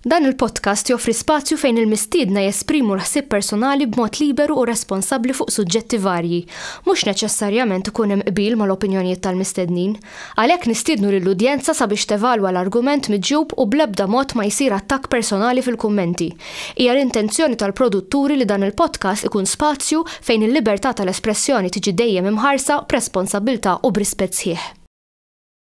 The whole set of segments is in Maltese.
Dan il-podcast joffri spazju fejn il-mistiedna jesprimu l-ħsieb personali b'mod liberu u responsabbli fuq suġġetti varji. Mhux neċessarjament ikun hemm qbil mal-opinjonijiet tal-mistednin. Għalhekk nistiednu lill-udjenza sabiex tevalwa l-argument miġjub u bl-ebda mod ma jsir attakk personali fil-kummenti. Hija l-intenzjoni tal-produtturi li dan il-podcast ikun spazju fejn il-libertà tal-espressjoni tiġi dejjem imħarsa b'responsabbiltà u b'rispett sħiħ.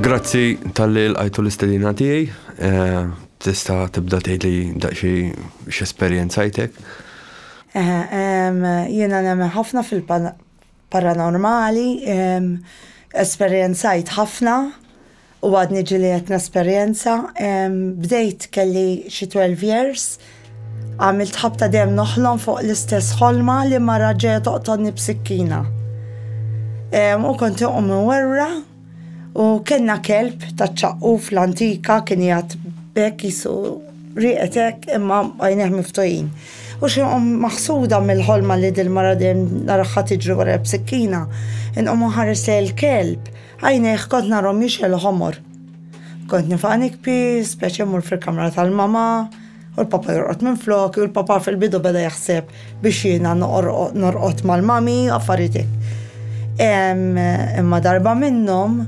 Grazzi tal-li l-għajtu l-istedina tiegħi. Eh, tista' tibda tgħid li daqxi x'esperjenzajtek. Jiena nemmen ħafna fil-paranormali, esperjenzajt ħafna U għadni ġieli qed nesperjenza, bdejt kelli xi twelve years, għamilt ħabta dejjem noħlom fuq l-istess ħolma li mara ġejja toqtolni b'sikkina. U kont inqum imwerwra u kellna kelb taċ-ċaqquf l-antika kien qiegħed b'hekk qisu rieqed hekk imma għajnejh miftuħin. U xi nqum maħsuda mill-ħolma li dil-mara dejjem naraha tiġri warajja b'sikkina, inqum inħares lejn il-kelb, Għajnejh kont narhom jixegħlu ħomor. Kont nifaq nikbi, speċi mmur fil-kamra tal-mama, u l-papa jorqod minfloki, u l-papa fil-bidu beda jaħseb biex jiena norqod mal-mami, affarijiet hekk. Imma darba minnhom,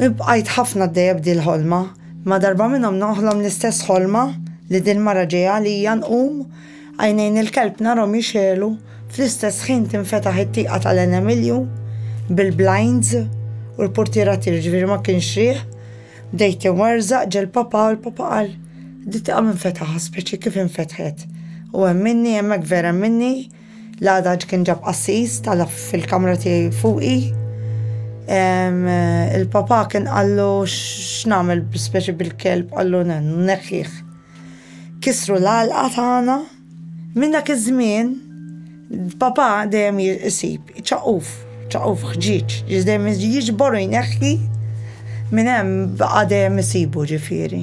bqajt ħafna għaddejja b'dil-ħolma, imma darba minnhom noħlom l-istess ħolma li dil-mara ġejja għalija nqum, Għajnejn il-kelb narhom jixegħlu, fl-istess ħin tinfetaħ it-tieqa tal-Għen Emilju bil-blinds u l-purtiera ttir, jiġifieri ma kienx riħ. Bdejt inwerżaq ġie l-papà u l-papà qal, Di tieqa min fetaħha, speċi kif infetħet? U hemm minni, hemmhekk vera hemm minni, l-għadaġ kien ġab qassis, tala' fil-kamra tiegħi fuqi. Il-papà kien qallu x'nagħmel speċi bil-kelb, qallu neħħih. Kissru l-għalqa tagħna. Minn dak iż-żmien, Papà dejjem isib ċaquf, ċaquf ħġieġ, dejjem jiġbor u jneħħi minn hemm baqa' dejjem isibu ġifieri.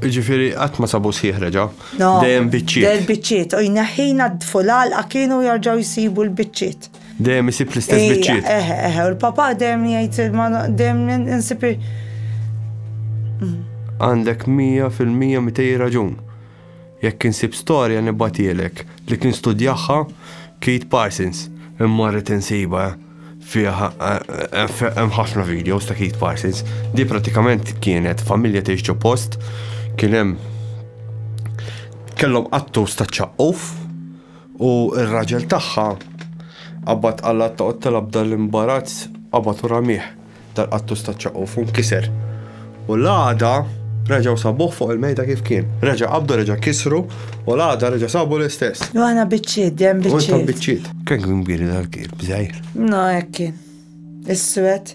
Ġifieri qatt ma sabu sħiħ reġa'. Dejjem biċċiet. Dejjem biċċiet u jneħħi jnaddfu l-għalqa kienu jerġgħu jsibu l-biċċiet. Dejjem isib l-istess biċċiet. Eħe, eħe, u l-papa dejjem jgħid ma dejjem insib. Għandek 100% mitej raġun. Jekk insib storja nibatielek li kien studjaħħa Kate Parsons. Imma rrid insiba fiha hemm ħafna videos ta' Kate Parsons. Di pratikament kienet familja tgħix post kien hemm kellhom attus ta' ċaqquf U r-raġel tagħha qabad qalat ta' qottilha b'dan imbarazz qabad u ramih dal-qattus taċ-ċaquf u nkiser. U l-għada reġgħu sabuh fuq il-mejda kif kien. Reġa' qabdu reġa' kisru u l-għada reġa' sabu l-istess. U aħna biċċiet, dejjem biċċiet. U intom biċċiet. Kemm kien kbir dal-kieb, żgħir? No hekk kien. Iswed.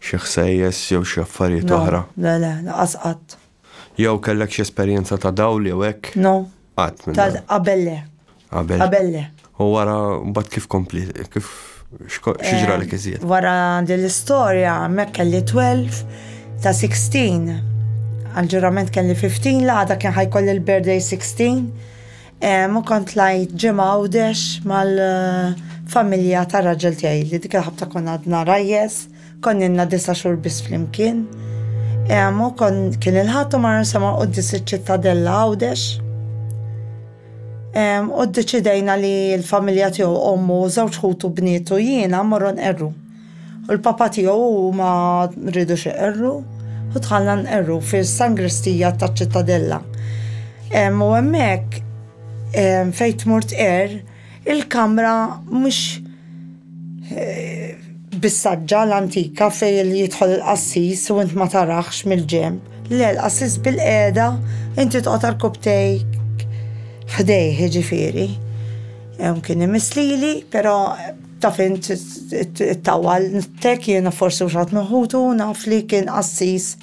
Xi ħsejjes jew xi affarijiet oħra? No, le le, laqas qatt. Jew kellek xi esperjenza ta' dawl jew hekk? No. Qatt minn dawn. Qabel le. Qabel? Qabel le. U wara mbagħad kif kompli, kif x'ġralek iżjed? Wara din l-istorja hemmhekk kelli 12 ta' 16. Għall-ġurament kelli 15 l-għada kien ħajkolli l-birthday 16. Ma kont tlajt ġimgħa Għawdex mal-familja tar-raġel tiegħi li dik il-ħabta kont għadna rajjes, konna ilna disa' xhur biss flimkien. U kien il-Ħadd u marna nsemgħu quddies iċ-Ċittadella Għawdex. U ddeċidejna li l-familja tiegħu, ommu, żewġ ħutu bniet u jiena mmorru nqerru. U l-Papa tiegħu u huma rridux iqerru u dħalna nqerru fis-sangristija taċ-Ċittadella. U hemmhekk fejn tmur tqerr il-kamra mhux bis-saġġa l-antika fejn jidħol il-qassis u int ma tarax mill-ġenb. Le, l-qassis bilqiegħda inti toqgħod għal kubtejk ħdejh jiġifieri. Kien imiss lili, però. Taf int it-tawwal, tek jiena forsi mhux ħadd minn ħutu naf li kien qassis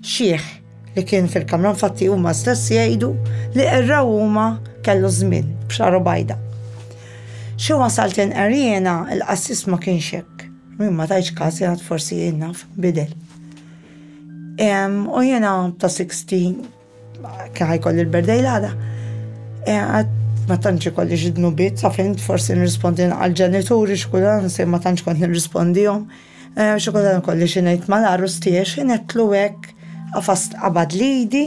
xiħ li kien fil-kamra infatti huma stess jgħidu li qerraw huma kellu żmien b'xagħru bajda. Xi wasalt inqer jiena il-qassis ma kienx hekk. Jien ma tajtx każ jien għad forsi jien naf bidel. U jiena ta' 60 Kien ħajkolli l-birthday l-għada. E, ma tantx ikolli xi dnubiet, sa fejn forsi nirrispondi għal ġenituri x'kullan se ma tantx kont nirrispondihom. E, xi kultant ikolli xi ngħid mal-għarus tiegħi xi netlu hekk għafast qabad lidi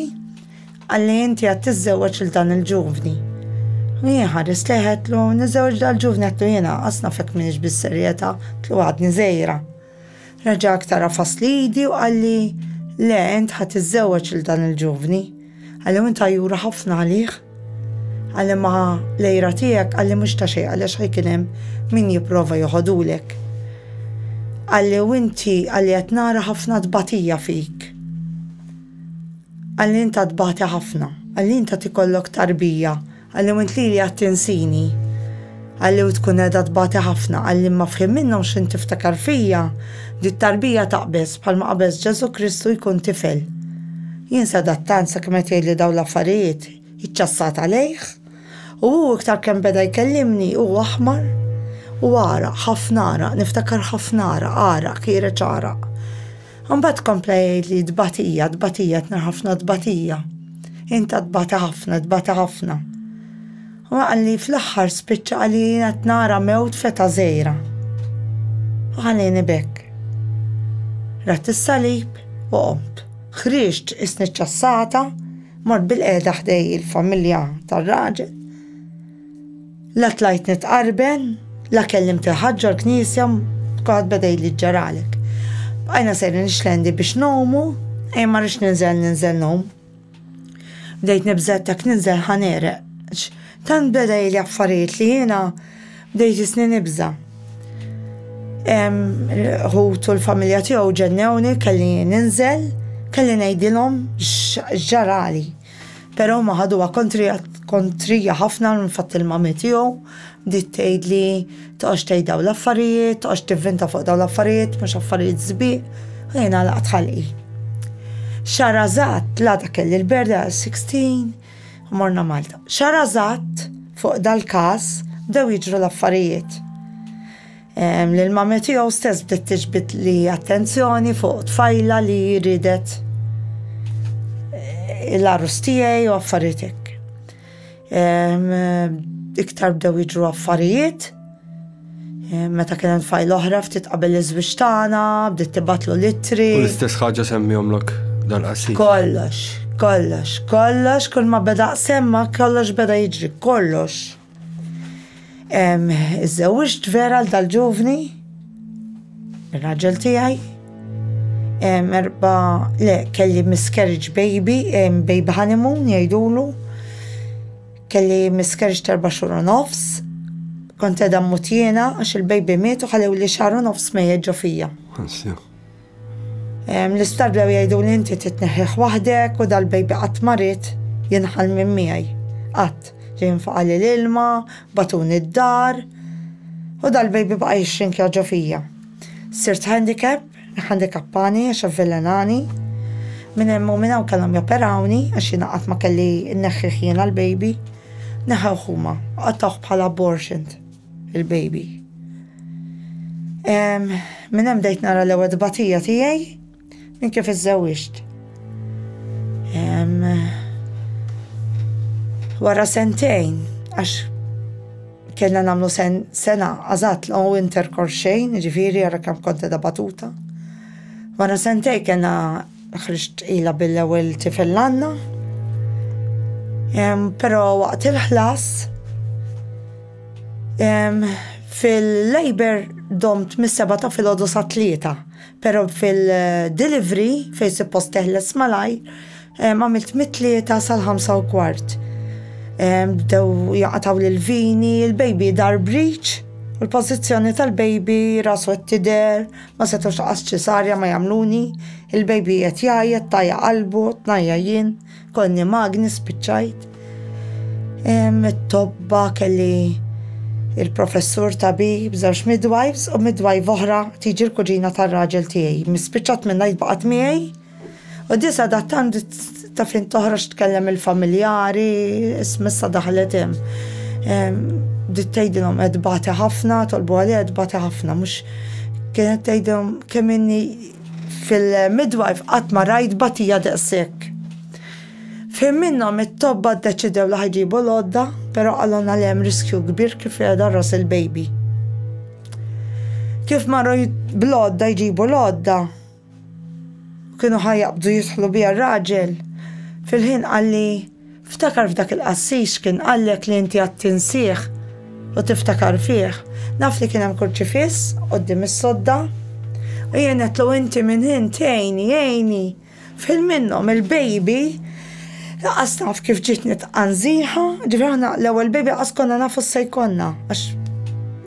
għalli inti għad tiżżewweġ il dan il-ġuvni. Jien ħares leħetlu, niżżewweġ dal-ġuvni għattu jiena, asna fek minix bis-serjeta, tlu għadni zejra. Reġa' aktar għafas l-idi u qalli, Le, int ħa tiżżewweġ lil dan il-ġuvni. Qalli, U int għajjura ħafna għalih? Qalli, Ma, l-għira tiegħek, qalli, mhux ta' xejn għaliex ħa jkun hemm min jipprova joħodhulek. Qalli, U inti, qalli, qed nara ħafna tbatija fik. Qalli, Int għad tbati ħafna. Qalli, Int għad ikollok tarbija. Qalli u int lili qed tinsini? Qalli u tkun qiegħda tbati ħafna? Qalli imma f'ħin minnhom x'int tiftakar fija? Di t-tarbija taqbeż bħalma qabeż Ġesù Kristu jkun tifel. Jien sedat tant sakemm qed jgħidli dawn l-affarijiet, iċċassat għalejh. U hu iktar kemm beda jkellimni hu aħmar u għaraq, ħafna għaraq, niftakar ħafna għaraq, għaraq, kiereċ għaraq. Imbagħad kompla jgħidli tbatija, tbatija, tna ħafna tbatija. Inta tbata ħafna, tbata ħafna. U għalli fl-axħar spiċċa għalli jina t-nara mewt feta zejra. U għalli nibek. Rat il-salib u qomt. Xriġt isni ċassata, mort bil-qeda ħdej il-familja tal-raġel. La tlajt nitqarben, la kellimt il-ħadd ġol-knisja, kulħadd beda jgħidli x'ġaralek. Bqajna sejrin ix-xlendi biex ngħumu, ejja ma rridx ninżel ninżel ngħum. Bdejt nibża' jekk ninżel ħa negħreq, għax tant beda jgħidli affarijiet li jiena bdejt jisni nibża'. L-ħut u l-familja tiegħu ġennewni kelli ninżel, kelli ngħidilhom x'ġarali. Però huma ħaduha kontrija ħafna l-fatt li l-mami tiegħu bdiet tgħidli toqgħodx tgħid dawn l-affarijiet, toqgħodx tivvinta fuq dawn l-affarijiet, mhux affarijiet sbieq, u jien għalaqt ħalqi. Xarażat l-għada kelli l-berda 16 u morna Malta. Xarażat fuq dal-każ bdew jiġru l-affarijiet. L-mami tiegħu stess bdiet tiġbid li attenzjoni fuq tfajla li ridet eh, l-arus tiegħi u affarijiet hekk. Iktar bdew jiġru affarijiet. Meta kien hemm tfajl oħra ftit qabel iż-żwieġ tagħna, bdiet tibatlu litri. U l-istess ħaġa semmihomlok dal-qasir. Kollox, kollox, kollox, kull ma beda semma kollox beda jiġri, kollox. Iżżewġt vera l dal-ġuvni, il-raġel tijaj, erba, le, kelli miscarriage baby, baby honeymoon jajdulu, kelli miscarriage terba xur u nofs, kont edha mutjena għax il-baby miet u ħalew li xar u nofs mejjet ġo fija. L-isptar bdew jgħiduli inti trid tneħħih waħdek u dal-baby qatt ma ried jinħall minn miegħi. Qatt. Ġie jinfaqali l-ilma, bagħtuni d-dar u dal-baby baqa' jixxinkja ġo fija. Sirt handicap, iħandikappani għax avvelenani. Minn hemm u minn hawn kellhom joperawni għax jiena qatt ma kelli nneħħih jiena l-baby. Neħewh huma u qattgħuh bħala abortioned. Il-baby. Minn hemm bdejt nara l-ewwel tbatija tiegħi minn kif iżżewwiġt. Wara sentejn, għax kellna nagħmlu sena għażat l u interkor xejn, ġifieri ara kemm kont qegħda batuta. Wara sentejn kellna Ħriġt tqila bil-ewwel tifel Lanna. Però waqt il-ħlas fil-labour domt mis-seba' ta' filgħodu sat-tlieta, però fil-delivery fejn suppost teħles malajr għamilt mit-tlieta sal-ħamsa u kwart. Bdew jaqatgħuli l-vini, il-baby dar breech u l-pożizzjoni tal-baby rasu qed tidher, Ma setgħux laqas ċesarja ma jagħmluni, il-baby qed jgħajjat, tajja qalbu, tnajja jien, konni magni spiċċajt. It-tobba kelli il-professur tabib, żewġ midwives u midwife oħra tiġi l-kuġina tar-raġel tiegħi. Mispiċċat minnha jitbaqgħet miegħi U disa da tant ta' fin toħroġ tkellem il-familjari, smissa daħlet hemm. Dit tgħidilhom qed bati ħafna, tolbu għalija qed bati ħafna, mhux kienet tgħidilhom kemm inni fil-midwife qatt ma rajt batija daqshekk. F'ħin minnhom it-tobba ddeċidew li ħajġibu l-għodda, però qalulna li hemm riskju kbir kif qiegħda ras il-baby. Kif marru bl-għodda jġibu l-għodda, u kienu ħa jaqbdu jidħlu biha r-raġel, fil-ħin qalli, Ftakar f'dak il-qassis x'kien qallek li inti għad tinsih u tiftakar fih. Naf li kien hemm kurċifiss quddiem is-sodda u jien għedtlu inti minn int għini, għini. F'ħin minnhom il-baby laqas naf kif ġiet nitqanżiha, ġifieri aħna l-ewwel baby laqas konna nafu x'se jkollna għax,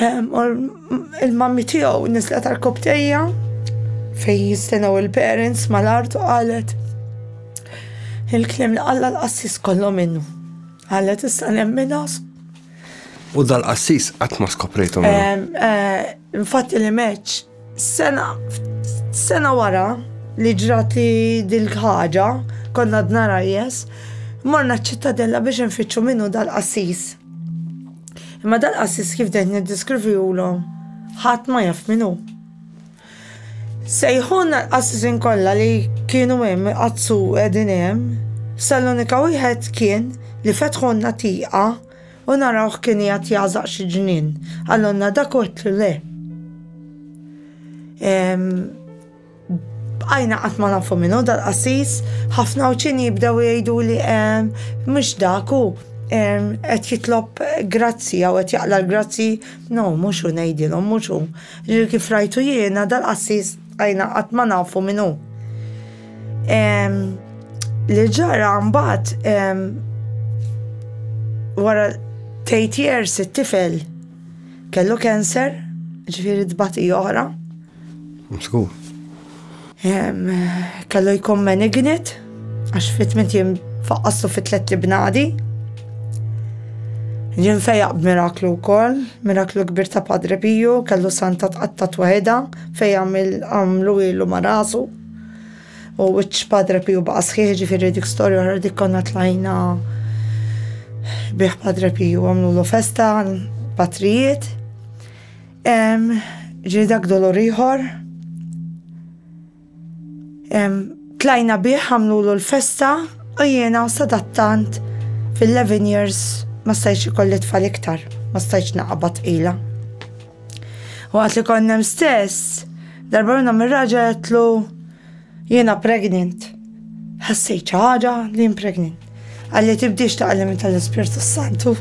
Il-mammi tiegħu nislet għal koptejja fejn jistenaw il-parents mal-art u qalet il-klim li qalla l-qassis kollu minnu. Qalet issa nemmina. U dal-qassis qatt ma skoprejtu. Eh, infatti li meċ Sena, sena wara li ġrat li dil-ħaġa, konna d-nara jes, morna ċittadella biex nfittxu minnu dal-qassis. Imma dal-qassis kif dejt niddiskrivi u l-om, ħat ma jaf minnu. Sejħun l-qassis inkolla li kienu hemm għazzu edin hemm, sal-unika wieħed kien li fetħunna tiqa U narawh kien qiegħed jagħżaq xi ġnien. Għalonna dak u għedtlu le. Bqajna qatt ma nafu minnu dal-qassis, ħafna uċin jibdew jgħidu li mhux dak u qed jitlob grazzi jew qed jaqla l-grazzi, no mhux hu ngħidilhom mhux hu. Kif rajtu jiena dal-qassis bqajna qatt ma nafu minnu. Li ġara mbagħad wara tgħid years it-tifel kellu cancer, ġifieri tbati oħra. Mskur. Kellu jkun malignant għax fit minn jiem faqqastu fit tlet libnadi. Jien fejaq b'miraklu wkoll, miraklu kbir ta' Padre Piju, kellu santa tqatta' twahidha fejn għamlu ilu ma' rasu. U wiċċ Padre Piju baqa' sħiħ ġifieri dik storja oħra dik konna tlajna bih Padre Piju għamlu festa patrijiet. Ġiri dak dolor ieħor. Tlajna bih għamlu l-festa u jiena sadattant fil-11 years ma stajċ ikolli tfal iktar, ma stajċ naqabad ila. Waqt li konnem stess, darba minna mir-raġa għetlu jena pregnant. Ħassejt ħaġa li jen pregnant. Għalli tibdix ta' għallim tal-Ispirtu Santu.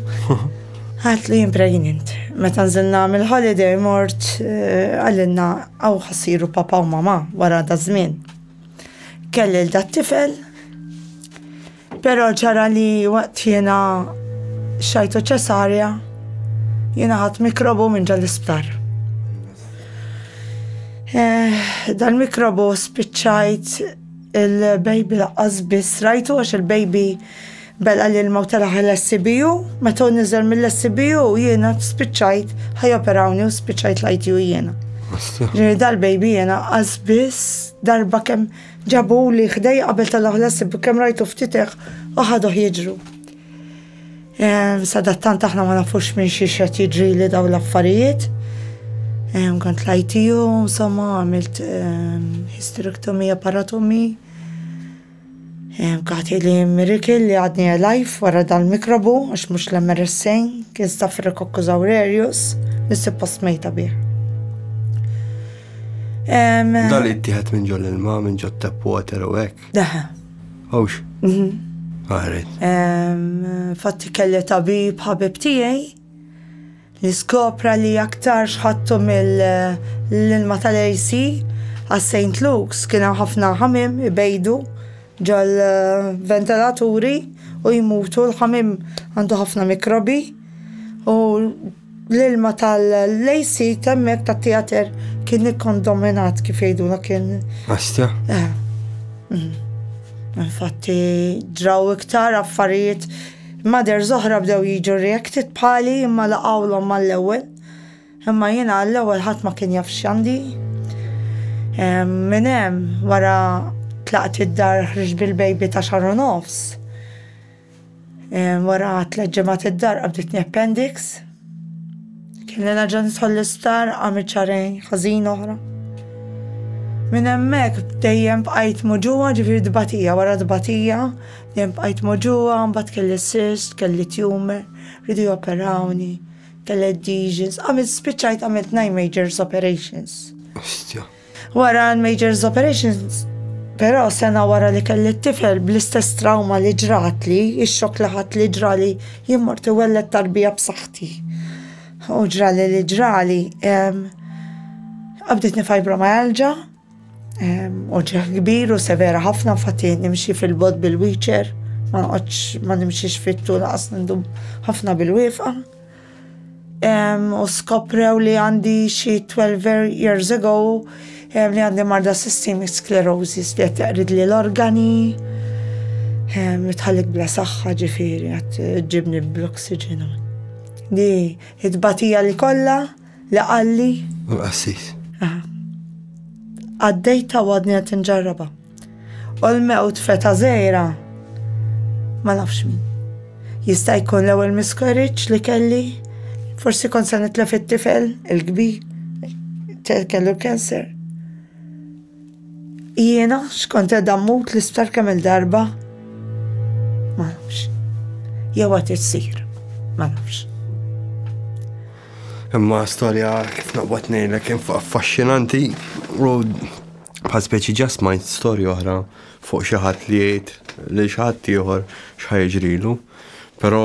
Għat li impregnant. Meta nżilna mill-holiday mort eh, għallinna għaw ħassiru papa u mama wara da żmien. Kelli l-dat tifel Però ġara li waqt jiena xajtu ċesarja, jiena ħadd mikrobu minn ġol isptar. Eh, dan mikrobu spiċċajt il-baby laqqas biss rajtu għax il-baby bella li l mawta laħal l-SCBU, meta nizel mill-SCBU jiena spiċċajt ħajoperawni u spiċċajt lajt ju jiena. Ġiri dal-baby jiena għazbis darba kem Ġabuli ħdejja qabel tala' ħlasib kemm rajtu ftit hekk u ħaduh jiġru. Ehm, sadattant aħna ma nafux minn xi xed jiġrili daw l-affarijiet. Ehm, kont lajtiju, insomma, għamilt ehm, hysterectomija paratomi. Kati li mirikil li għadni għalajf wara dal-mikrobu, għax mux l-MRSA, kien stafrikokku zawrerius, nissi post mejta bih. Dal ittieħed minn ġol ilma, minn ġot tap water u hekk. Daħa. Hawx. Mhm. Għaret. Fatti kelli tabib ħabib tiegħi li skopra li aktar xħattu mill-ilma tal-AC għas St. Luke's kien hemm ħafna ħamim ibejdu ġol ventilaturi u jmutu l-ħamim għandu ħafna mikrobi u L-ilma tal-AC temmek ta' teater kien ikkondominat kif jgħiduna kien. Astja. Eh. Mm. Infatti draw iktar affarijiet mader zoħra bdew jiġu reacted bħali imma laqawlhom mal-ewwel. Imma jiena għall-ewwel ħadd ma kien jaf x'għandi. Minn hemm wara tlaqt id-dar ħriġ bil-baby ta' xaru nofs. Wara tliet ġimgħat id-dar qabditni appendix. Kelli naġa nidħol l-isptar għamil ċarejn ħażin oħra. Minn hemmhekk dejjem bqajt moġuwa ġifieri dbatija wara dbatija, dejjem bqajt moġuwa, mbagħad kelli sist, kelli tumor, ridu joperawni, kelli adhesions, għamilt spiċċajt għamilt nine majors operations. Wara l-Majors Operations, però sena wara li kelli t-tifel bl-istess trawma li ġratli, ix-xokk li ħadtli ġrali jien mort iwelled tarbija b'saħħti. U ġrali li ġrali, qabditni fibromyalgia, uġigħ kbir u severa ħafna, infatti nimxi fil-bogħod bil-wheelchair, ma noqgħodx ma nimxix fit-tul lanqas nindum ħafna bil-wieqfa. u skoprew li għandi xi 12 years ago li għandi marda systemic sclerosis li qed jaqrid li l-organi mitħallik bla saħħa ġifieri qed ġibni bl-oxygen. Di it-batija li kollha li qalli. Għaddejta u għadni qed inġarraba. U l-mewt f'età żgħira ma nafx min. Jista' jkun l-ewwel miscarriage li kelli, forsi kont se nitlef it-tifel il-kbir, kellu l-cancer. Jiena x'kont qed mmut l-isptar kemm il-darba? Ma nafx. Jew qed issir, ma nafx. Imma storja kif noqgħod ngħidlek kien affaxxinanti u Bħal speċi ġa smajt storja oħra fuq xi ħadd li jgħid lil xi ħadd ieħor x'ħa jiġrilu, però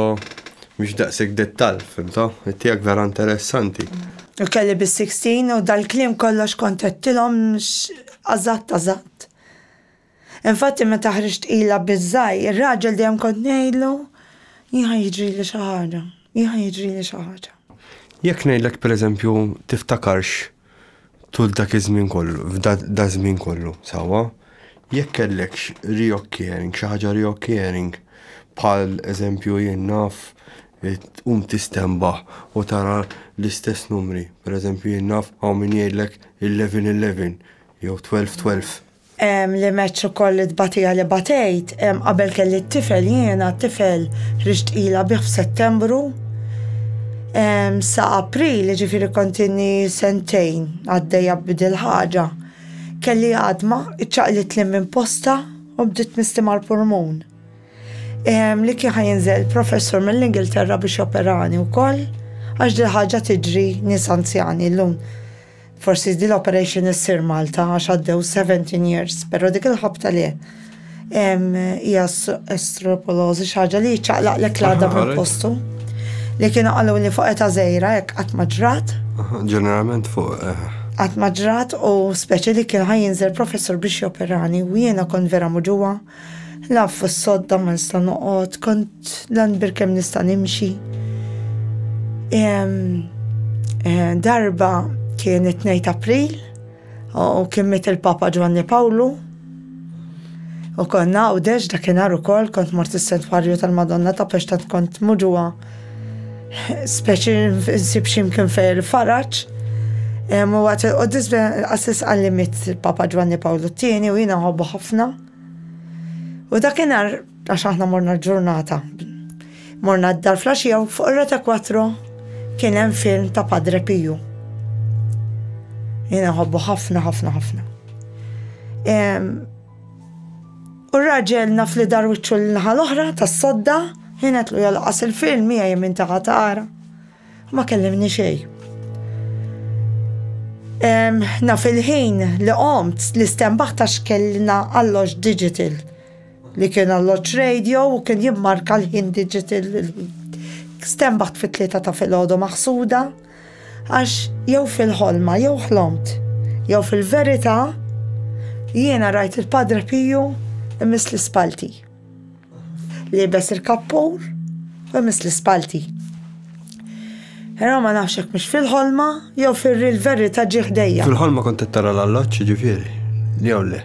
mhux daqshekk dettall, fimtha? It-tiegħek vera interessanti. Kelli biss sixteen u dal-kliem kollu għax kont għedtilhom eżatt eżatt. Infatti meta ħriġt qilha biż-żgħir, ir-raġel dejjem kont ngħidlu, jien ħa jiġrili xi ħaġa, jien ħa jiġrili xi ħaġa. Jekk ngħidlek pereżempju tiftakarx Tul dak iż-żmien kollu, f'daż-żmien kollu, sewwa, jekk kellekx reoccurring, xi ħaġa reoccurring, bħal eżempju jien naf tqum tistenbaħ u tara l-istess numri, pereżempju jien naf hawn min jgħidlek 11 11 jew 12 12. li match ukoll it-tbatija li batejt, qabel kelli t-tifel jiena, t-tifel ħriġt ilha bih f'Settembru, sa April, jiġifieri kont inni sentejn għaddejja b'dil ħaġa, kelli għadma, iċċaqlitli minn postha u bdiet tmisti mal-pulmun. Li kien ħa jinżel professur mill-Ingilterra biex joperani wkoll għax dil ħaġa tiġri nies anzjani llum. Forsi din l-operation issir Malta għax għaddew 17 years, però dik il-ħabta le. Hija estropolożi xi ħaġa li ċaqlaqlek l-għadha minn postu. Li kienu qalu li fuq eta żejra hekk qatt ma ġrat. Ġeneralment fuq eh, għat maġrat u speċi li kien ħajinżel professor biex joperani u jiena kon vera muġuwa Naf fis-sodda ma nista' noqgħod, kont l-anbir kemm nista' nimxi. Eh, darba kien it-2 April u kien mit il-Papa Ġwanni Pawlu u konna għawdex dakinhar ukoll kont mort is-Sentwarju tal-Madonna ta' Pextat kont muġuha Speċi nsib ximkien fej il-faraċ. U għat il-qoddis għassis għallimit il-Papa Ġwanni Pawlu t-tieni u jina nħobbu ħafna. U dakinhar għax aħna morna ġurnata. Morna d-dar flaxija u fuq rata kwatro kien hemm film ta' Padre Piju. Jina nħobbu ħafna ħafna ħafna. U r-raġel naf li dar wiċċu l-naħa l-oħra tas-sodda, ħinetlu jolqos il-firn miegħi minn taħa tara. Ma kellimni xejn. Naf il-ħin li qomt li stembaħ ta' xkellna alloġ digital li kien alloġ radio u kien jimmarka l-ħin digital. Stembaħt fit-tlieta ta' filgħodu maħsuda. Għax jew fil-ħolma jew ħlomt, jew fil-verità, jiena rajt il-Padre Piju imiss l-ispalti. Liebes il-kappur u imiss l-ispalti. Però ma nafx hekk mhux fil-ħolma jew fil-verità ġie ħdejja. Fil-ħolma kont tara l-alloġġ ġifieri, jew le?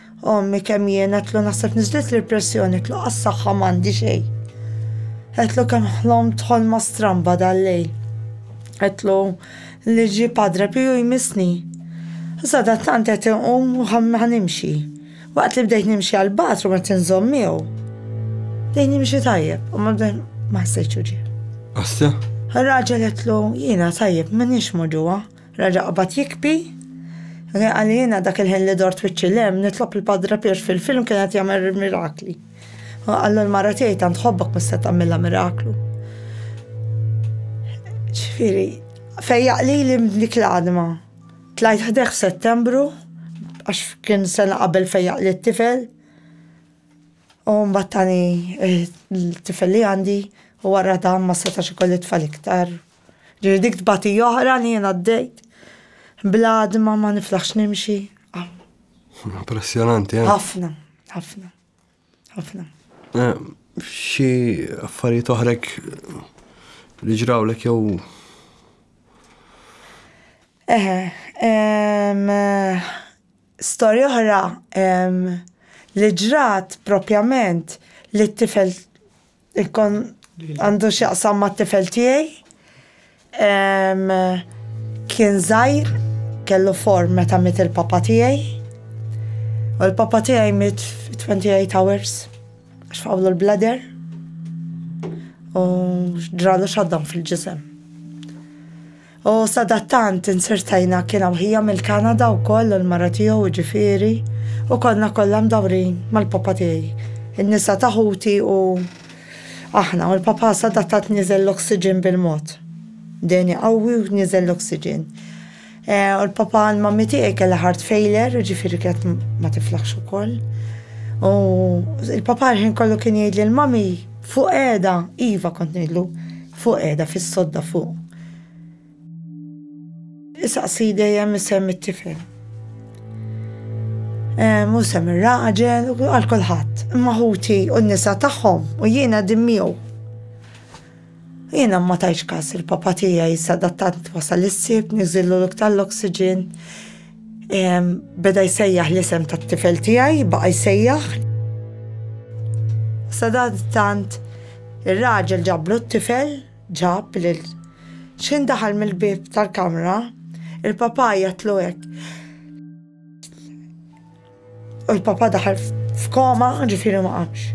Ommi kemm jien għetlu naħseb niżlet l-pressjoni għetlu għas-saħħa m'għandi xejn. Għetlu kemm ħlomt ħolma stramba dal-lejl. Għetlu li ġi Padre Piju jmissni. Sada tant qed inqum u ħanimxi. Waqt li bdejt nimxi għal bathroom qed inżomm miegħu. Bdejt nimxi tajjeb u ma bdejt ma ħsejtx ġie. Asja? Raġel għetlu jiena tajjeb minix moġuwa. Reġa' qabad jikbi. Kien qal li jiena dak il-ħin li dort wiċċi 'l hemm, nitlob lil Padre Pier fil-film kien qed jagħmel il-mirakli. Hu qallu l-mara tiegħi tant ħobbok mhux se tagħmilha miraklu. Ġifieri, fejjaq lili minn dik l-għadma. Tlajt ħdejh f'Settembru għax kien sena qabel fejjaq li t-tifel. U mbagħad tani t-tifel li għandi u wara dan ma setax ikolli tfal iktar. Ġifieri dik tbatija oħra li jien għaddejt bl-għadma ma niflaħx nimxi. Ah. Impressjonanti, eh? Ħafna, ħafna, ħafna. Eh, xi affarijiet oħrek li ġrawlek jew Eħe, eh, storja oħra li ġrat propjament li t-tifel Ikkon għandu x'jaqsam mat-tifel tiegħi. Kien żgħir, kellu form meta miet il-papa tiegħi. U l-papa tiegħi miet 28 hours għax fawlu l-bladder u ġralu xaddam fil-ġisem. U sadattant insirtajna kien hawn ħija mill-Kanada wkoll u l-mara tiegħu jiġifieri, u konna kollha mdawrin mal-papa tiegħi, in-nisa ta' ħuti u aħna, u l-papa sadattant niżel l-oxygen bil-mod. Dehni qawwi u niżel l-oxygen. U l-papa għand mammi tiegħi kellha heart failure, jiġifieri kienet ma tiflaħx ukoll. U l-papa l-ħin kollu kien jgħid lil mommy, fuq qiegħda, iva kont ngħidlu, Fuq qiegħda fis-sodda fuq. Isaqsi dejjem isem it-tifel. Mhu sem ir-raġel u għal kulħadd. Imma ħuti u n-nisa tagħhom u jien qegħdin miegħu. Jiena ma tajtx każ il-papà tiegħi sadattant wasal is-Sibt niżillu l-ok tal-oxygen. Beda jsejjaħ l-isem tat-tifel tiegħi, baqa' jsejjaħ. Sadantant ir-raġel ġablu t-tifel, ġab lil x'ħin daħal mill-bieb tal-kamra, il-papà jgħidlu hekk. U l-papa daħal f'koma, ġifiri ma qamx.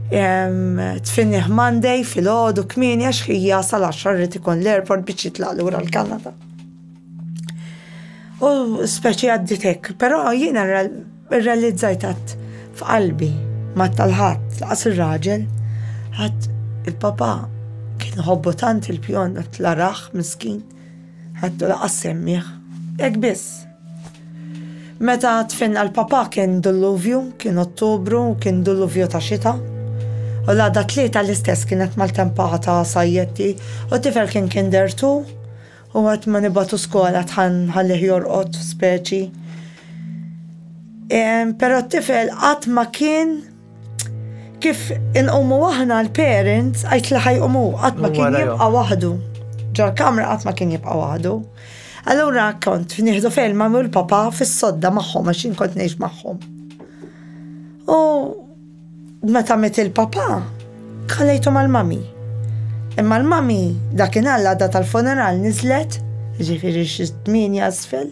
Tfinniħ Monday fil-ħodu kmini għax ħija sal-10 rrit ikun l-airport biex jitlaq lura l-Kanada. U speċi għadditek, pero jiena realizzajt għat f'qalbi ma tal-ħat, laqas il-raġel, għat il-papa kien hobbotant il-pjon għat l-araħ miskin. Ħadtu laqqas semmieh. Hekk biss. Meta tfinna l-papà kien dulluvju, kien Ottubru u kien dulluvju ta' xita. U l-għada t-Tlieta l-istess kienet maltempa ta' sajjetti u t-tifel kien kinder two u waqt ma nibgħatu skola dħal nħallih jorqod, speċi. Però t-tifel qatt ma kien Kif inqumu aħna l-parents, għajt li ħajqumu, qatt ma kien jibqa' waħdu. Ġol-kamra qatt ma kien jibqa' waħdu. Allura kont nieħdu fejn ma mul papa fis-sodda magħhom għax jien kont ngħix magħhom. U meta met il-papa, kalejtu mal-mami. Imma l-mami dakin għalla da tal-funeral nizlet, ġifiri xizmin jasfel.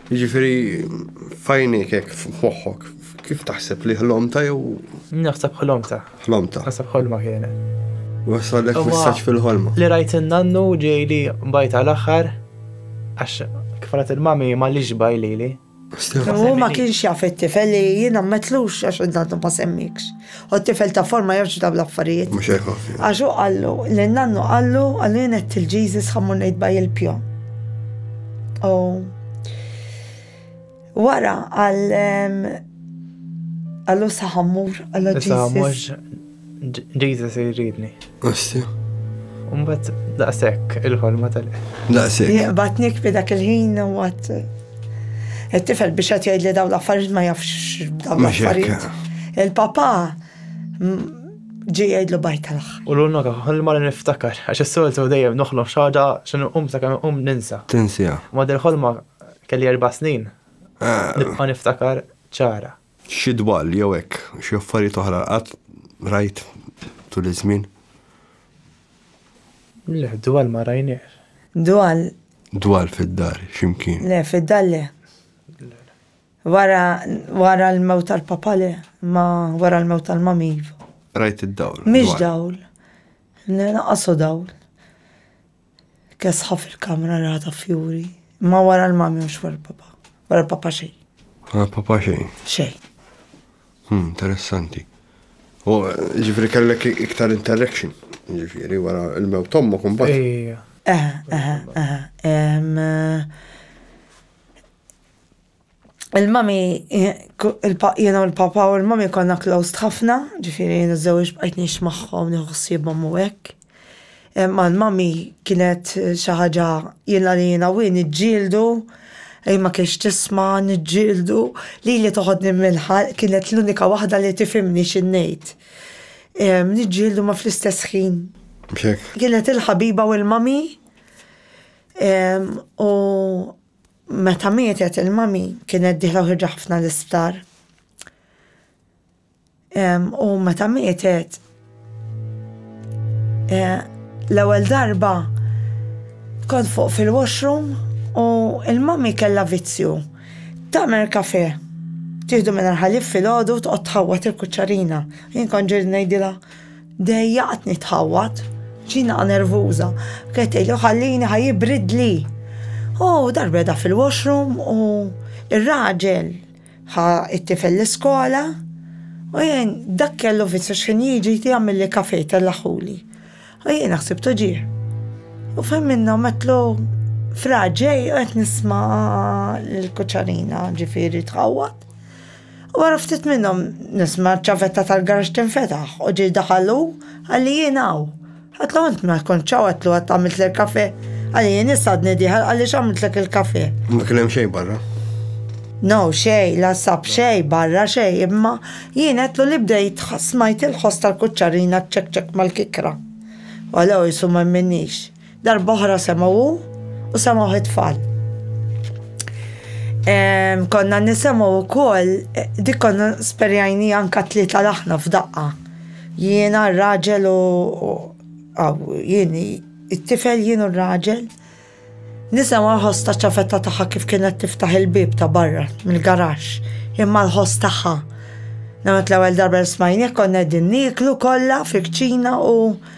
Jiġifieri f'għajnejk hekk f'moħħok, kif taħseb li ħlomta jew? Naħseb ħlomta. Ħlomta. Naħseb ħolma kienet. Wasalek messaġġ fil-ħolma. Li rajt in-nannu ġej li bajt għal aħħar għax kif rat il-mami ma li ġbaj lili. U ma kienx jaf it-tifel li jiena metlux għax id-nannu ma semmikx. U t-tifel ta' forma ma jafx dawn l-affarijiet. Mhux hekk ħafna. Għax hu qallu, lil nannu qallu, qallu jien għedt il Jesus ħa mmur ngħid baj il-pjo. U wara għal għallu saħammur għallu Jesus. Jesus jridni. Għassi. Umbat daqsek il-ħolma tal Daqsek. Jaqbatnik bi dak il-ħin u għat. Il-tifel biex għat jgħid li daw l-affarijiet ma jafx daw l-affarijiet. Il-papa ġi jgħidlu bajt tal U l-unna ħolma li niftakar, għax s-soltu dejjem noħlom xaġa xan um sa' kam um ninsa. Tinsija. Ma dil-ħolma kelli erba snin. Ah. Nibqa niftakar ċara. Xi dwal jew hekk, xi affarijiet oħra qatt rajt tul iż-żmien? Le, dwal ma rajniex. Dwal? Dwal fid-dar, x'imkien? Le, fid-dar le. Wara, wara l-mewt tal-papa le, imma wara l-mewt tal-mami iva. Rajt id-dawl? Mhix dawl. Le, lanqas hu dawl. Kesħa fil-kamra ra ta' fjuri. Imma wara l-mami mhux wara l-papa. Wara l-papa xejn. Wara l-papa xejn. Xejn. Hmm, interessanti. U ġifri kellek iktar interaction, ġifri wara l-mew tommu kumbat. Eħe, eħe, eħe. il-mami, jien u l-papa u l-mami konna closed ħafna, ġifieri jien iż-żewġ bqajt ngħix magħhom nieħu ħsiebhom u hekk. Imma l-mami kienet xi ħaġa jiena li jiena u hi niġġieldu, hi ma kienx tisma', niġġieldu, lili toħodni mill-ħalq kienet l-unika waħda li tifhimni xi ngħid. Niġġieldu ma fl-istess ħin. Kienet il-ħabiba u l-mami u. Meta mietet il-mami kienet dieħla u ħirġa ħafna l-isptar. U meta mietet eh, l-ewwel darba kont fuq fil-washroom u il-mami kellha vizzju. Tamer kafe tieħdu minn ħalib fil-ħodu tqgħod tħawwat il-kuċċarina. Jien kont ġiet ngħidilha Dejjaqtni tħawwad. Ġinha nervuża. Kienet tgħidlu ħallini ħa jibridli. U darba qiegħda fil-washroom u r-raġel ħa t-tifel l-iskola u jien dak kellu vizzju x'ħin jiġi jagħmilli kafè jtellaħħuli. U jiena ħsibtu ġieh. U fejn minnha għammetlu fraġ ġej u qed nisma' lill-kuċċarina ġifieri tħawwad. Wara ftit minnhom nisma' ċ-ċavetta tal-garaxx tinfetaħ u ġej daħal hu, qalli jien hawn. Għedtlu int ma kontx hawn għedtlu għad għamiltli l-kafè. Qalli jien issa għadni dieħel qalli x'għamiltlek il-kafè. Ma kien hemm xejn barra? No xejn, la sab xejn barra xejn imma jien għedtlu li bdejt smajt il-ħoss tal-kuċċarina ċċekċekk mal-kikra. U għallow qisu ma jminnix. Darb'oħra semgħu hu u semgħu it-tfal. Konna nisemgħu wkoll eh, dik konna sperjajni anka tlieta laħna f'daqqa. Jiena r-raġel u jien it-tifel jien u r-raġel. Nisemgħu ħosta ċafetta tagħha kif kienet tiftaħ il-bib ta' barra mill-garax imma l-ħoss tagħha. Namet l-ewwel darba smajni konna din niklu kollha fil-kċina u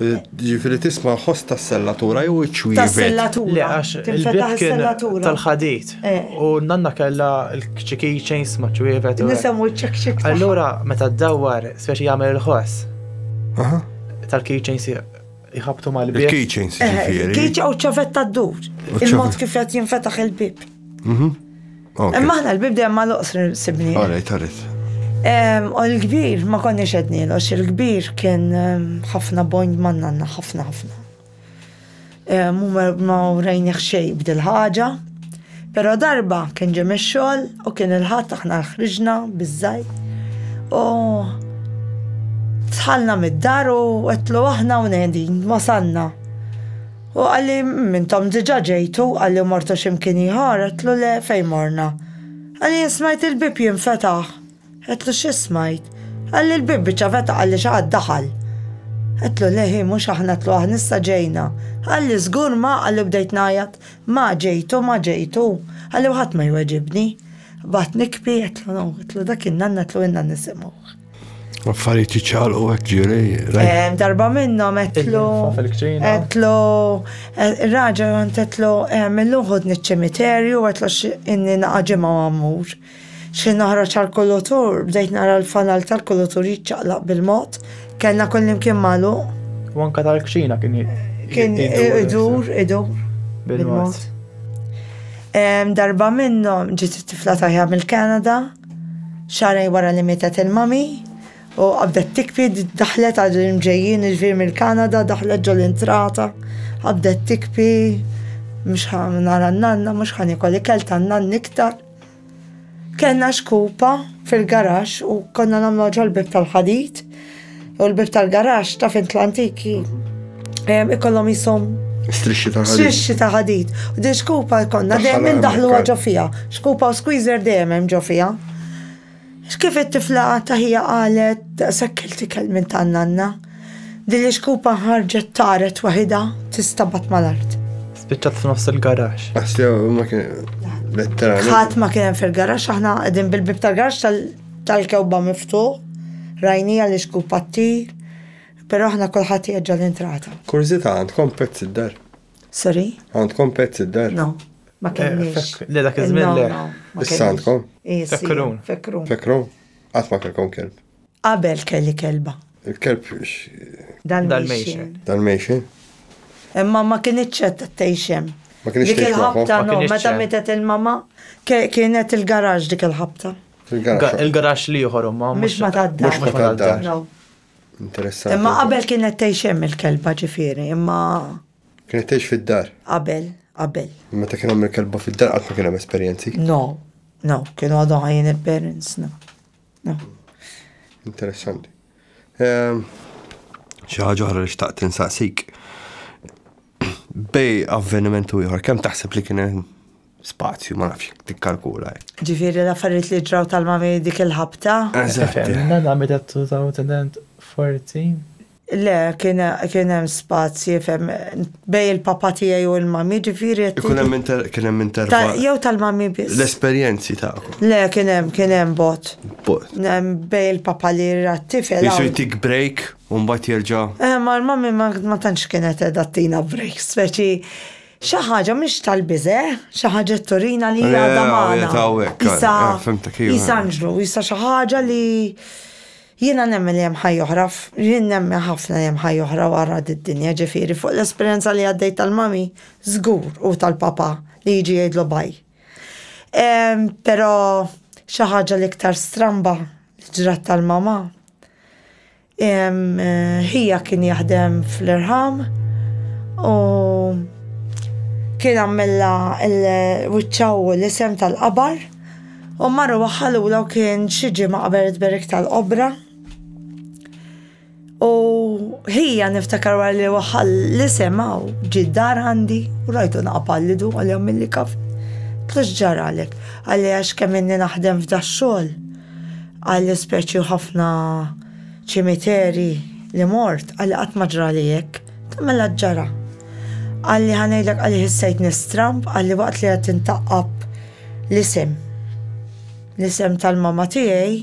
Ġifiri tisma ħoss ta' sellatura jew iċ-ċwievi. Ta' sellatura. Le, għax il-bib kien tal-ħadit. Eh. U nanna kella l-kċiki ċejns ma' ċwievet. Nisamu ċekċek. Allura, meta d-dawwar, speċi jagħmel il-ħoss. Tal-keychains jħabtu mal-bib. Il-keychains. Eh, Keychain u ċavetta d-dur. Il-mod kif qed jinfetaħ il-bib. Mhm. Imma aħna l-bib dejjem ma loqsr sibni. Alright, alright. U l-kbir ma konniex ednilu, il-kbir kien ħafna bond ma' nanna, ħafna ħafna. Mu ma urejni xej b'dil ħaġa, pero darba kien ġem ix-xogħol u kien il-ħadd aħna ħriġna biż-żgħir. U dħalna mid-dar u għedtlu aħna hawn qegħdin, wasalna. U qalli, Hm, intom diġà ġejtu? Qalli, Mortu xi mkien ieħor? Għedtlu, Le, fejn morna? Qalli, Jien smajt il-bieb jinfetaħ. Għedtlu, Xi smajt? Qalli, Il-bieb biċċa fetaħ, qalli, Xi ħadd daħal. Għedtlu, Le, hi, mhux aħna, għedtlu, Aħna issa ġejna. Qalli, Żgur ma, qalli, bdejt ngħajjat, Ma ġejtu, ma ġejtu. Qalli, U ħadd ma jweġibni. Baqgħet nikbi, għedtlu, No, għedtlu, Dak kien Nanna, għedtlu, Ilna nisimgħuh. Affarijiet iċċaqlu hekk ġiri. Darba minnhom etlu. Etlu. Raġa għant etlu millu ħod niċ-ċimiterju etlu inni naqaġima għamur. Xi noħroġ għal-kulutur, bdejt nara l-fanal tal-kulutur jiċċaqlaq bil-mod, kellna kullim kien malu. U anka tal-kċina kien kien idur, idur. Bil-mod. Darba minnhom ġiet it-tifla tajja mill-Kanada. Xahrejn wara li mietet il-mummy u qabdet tikbi daħlet għal l-imġejjin jiġifieri mill-Kanada daħlet ġo l-intrata qabdet tikbi mhux ħa nara n-nanna mhux ħa niekol ikel tan-nanni iktar. Kellna xkupa fil-garaxx u konna nagħmluha ġol-bieb tal-ħadid u l-bib tal-garax ta' fint l-antiki ikollhom jisom Strixxi ta' ħadid. Strixxi ta' ħadid. U din xkupa konna dejjem daħlu ġo fija. Xkupa u squeezer dejjem hemm ġo fija. X'kif it-tifla ta' ħija qalet sekkel tikel minn tan-nanna. Din li xkupa ħarġet taret waħida tistabat mal-art. Spiċċat f'nofs il-garax. Assew ma kien Ħadd ma kien hemm fil-garax aħna qegħdin bil-bib tal-garax tal tal-kewba miftuħ, rajnija li xku pattir, pero aħna kulħadd jeġġa' l-entrata. Kurżita' għandkom pets id-dar? Sorry? Għandkom pets id-dar? No, ma kenniex. Le dak iż-żmien le. Issa għandkom? Fekrun. Fekrun. Qatt ma kellkom kelb? Qabel kelli kelba. Il-kelb Dalmation. Dalmation. Imma ma kienitx qed tgħix hemm. Ma kienx Dik il-ħabta no, meta mietet il-mama kienet il-garaġ dik il-ħabta. Il-garaġ li ieħor ma. Mhux ma tadda. Mhux ma tadda. Interessanti. Imma qabel kienet tgħix hemm il-kelba ġifieri, imma. Kienet tgħix fid-dar. Qabel, qabel. Meta kien hemm il-kelba fid-dar qatt ma kien hemm esperjenzi. No, no, kienu għadhom ħajjin il-parents, no. Interessanti. Ehm, xi ħaġa oħra li xtaqt insaqsik. Bej avveniment u ieħor, kemm taħseb li kien hemm spazju, ma nafx tikkalkula. Ġifieri l-affarijiet li ġraw tal-mami dik il-ħabta. Eżatt. Nagħmel t-tawt forti. Le, kien kien hemm spazji fem bej il-papa tiegħi u l-mami, ġifieri qed Ikun hemm inter kien hemm Ta- intervall. Jew tal-mami biss. L-esperjenzi tagħkom. Le, kien hemm, kien hemm bot. Bot. Hemm Bej il-papa li ra t-tifel. Jisu hawn. jtik break u mbagħad jerġa'. Eh, ma l-mami ma ma tantx kienet edha tina break, speċi xi ħaġa mhix tal-biża', xi ħaġa turina li Le, għadha u magħna. jeta hawnhekk, Isa, eh, fimtek, iva. isa anġlu, isa xi ħaġa li Jiena nemmen li hemm ħajja oħra f', jien nemmen ħafna li hemm ħajja oħra wara did-dinja, ġifieri fuq l-esperjenza li għaddejt tal-mummy, żgur, u tal-papà li jiġi jgħidlu bye. Ehm, però xi ħaġa l-iktar stramba li ġrat tal-mamà, ehm, ħija kien jaħdem fl-irħam u kien għammilha l-wiċċha u l-isem tal-qabar, U marru waħħalula u kien xi ġimgħa qabel it-tberik tal-qobra. U ħija niftakar wara li waħħal li semgħu ġi dar għandi u rajtu naqpallidu għal jom milli kaf. Tux ġaralek, għalli għax kemm inni naħdem f'da xogħol għal speċi ħafna ċimiteri li mort għalli qatt ma ġrali hekk, tagħmel ġara. Għalli ħanejdlek għalli ħissejt nistramp għalli waqt li qed intaqqab L-isem. L-isem tal-mama tiegħi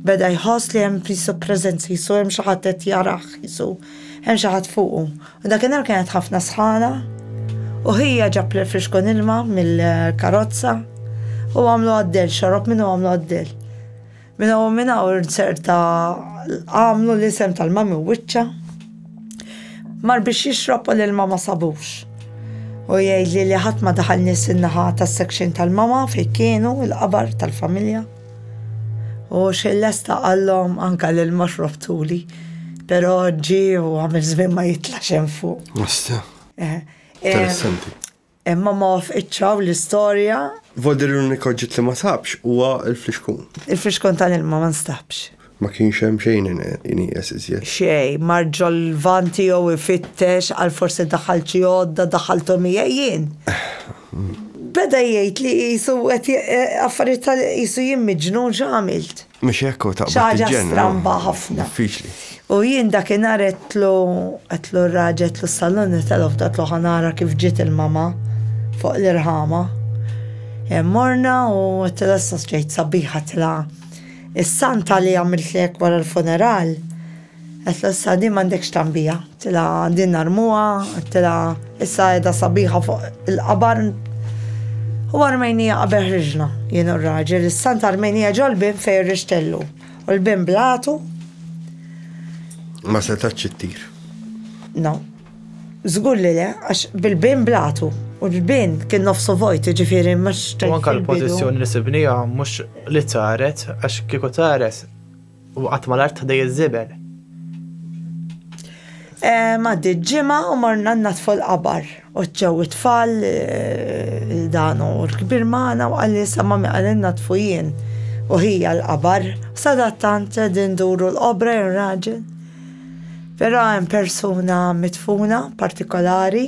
beda jħoss li hemm jisu preżenza, jisu hemm xi ħadd qed jarah, jisu hemm xi ħadd fuqu. U dakinhar kienet ħafna sħana u ħija ġab l-frixkun ilma mill-karozza u għamlu għad-dell, xorob minnu għamlu għad-dell. Minn hawn u minn hawn ċerta għamlu l-isem tal-Mami Wiċċa. Mar biex jixrob u l-ilma ma sabux. U jgħidli li ħadd ma daħal nies in-naħa tas-section tal-mama fejn kienu l-qabar tal-familja. U xejn lesta qallhom anke l-ilma xrobtuli. Però ġie u għamel żmien ma jitlax hemm fuq. Mista. Eh, eh. Interessanti. Imma ma wafqitx hawn l-istorja. Vodir l-unik oġġett li ma sabx huwa l-flixkun. Il-flixkun tal-ilma ma nstabx. Ma kienx hemm xejn inieqes iżjed. Xejn, mar ġol-lvant tiegħu ifittex għal forsi daħalt xi għodda, daħalthom hija jien. Beda jgħid li qisu qed affarijiet tal-, qisu jien miġnun x'għamilt. Mhux hekk u taqbad tiġġenna. Xi ħaġa stramba ħafna. Diffiċli. U jien dakinhar għedtlu għedtlu r-raġel għedtlu salon tal-off għedtlu ħanara kif ġiet il-mama fuq l-irħama. Morna u għedtlu s-sosġejt sabiħa tla' is-santa li għamiltlek wara l-funeral. Għedtla issa din m'għandekx tagħmbiha. Għedtilha din narmuha, għedtilha issa qiegħda sabiħa fuq il-qabar. U armejnija qabel ħriġna, jien u r-raġel, is-sant armejnija ġol bin fejn rixtellu. U l-bin blatu. Ma setax ittir. No. Zgur li le, għax bil-bin blatu. U l-bin kien nofsu vojt, ġifiri, mux. U anka l-pozizjoni li sibnija mux li taret, għax kieku taret U qatt ma l-art ħdej iż-żibel. Maddi ġimgħa u morna natfu l-qabar. U ċew it-tfal il-dan u l-kbir magħna u qalli sa ma miqal natfu jien. U ħija l-qabar, sadattant din duru l-qobra jew raġel. Però hemm persuna mitfuna partikolari